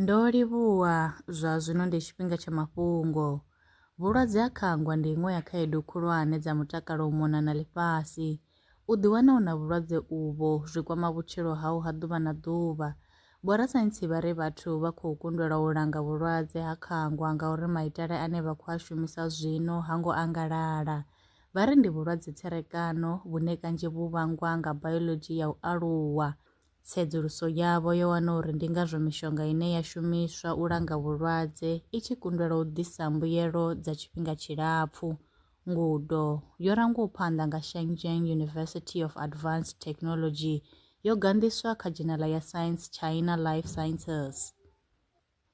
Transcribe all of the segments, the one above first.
Ndo livhuwa, zwa zwino ndi tshifhinga tsha mafhungo. Vhulwadze ha khangwa ndi iṅwe ya khaedu khulwane dza mutakalo u mona na ḽifhasi. U ḓiwana u na vhulwadze uvho zwi kwama vhutshilo hau ha ḓuvha na ḓuvha. Vhorasaintsi vha ri vhathu vha khou kundelwa u langa vhulwadze ha khangwa ngauri maitele ane vha khou a shumisa zwino ha ngo angalala. Vha ri ndi vhulwadze tserekano vhune kanzhi vhu vhangwa nga bayoḽodzhi ya u aluwa. Tsedzuluso yavho yo wana uri ndi ngazwo mishonga ine ya shumiswa u langa vhulwadze i tshi kundelwa u ḓisa mbuyelo dza tshifhinga tshilapfu. Ngudo yo rangwaho phanḓa nga Shenzhen University of Advanced Technology yo ganḓiswa kha dzhenala ya Science China Life Sciences.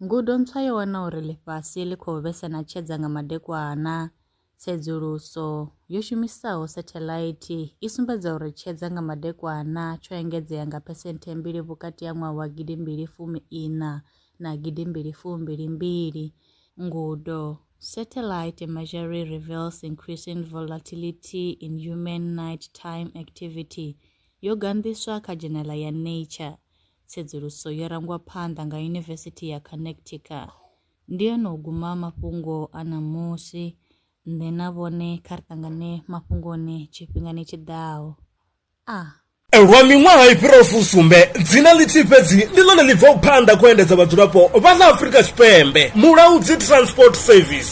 Ngudo ntswa yo wana uri ḽifhasi ḽi khou vhesa na tshedza nga madekwana. Tsedzuluso yo shumisaho sathelaithi i sumbedza uri tshedza nga madekwana tsho engedzea nga phesenthe mbili vhukati ha ṅwaha wa gidi mbili fumi iṋa na gidi mbili fumi mbili mbili. Ngudo, Satellite imagery reveals increasing volatility in human night-time activity, yo ganḓiswa kha dzhenela ya Nature. tsedzuluso yo rangwa phanḓa nga Yunivesithi ya Connecticut. Ndi hone u guma mafhungo a ṋamusi. Nṋe na vhone kha ri ṱangane mafhungoni tshifhingani tshi ḓaho. A. Lwa miṅwaha i fhiraho fusumbe, dzina ḽithihi fhedzi ndi ḽone ḽi bvaho phanḓa khou endedza vhadzulapo vha ḽa Afrika Tshipembe, Mulaudzi Transport Service.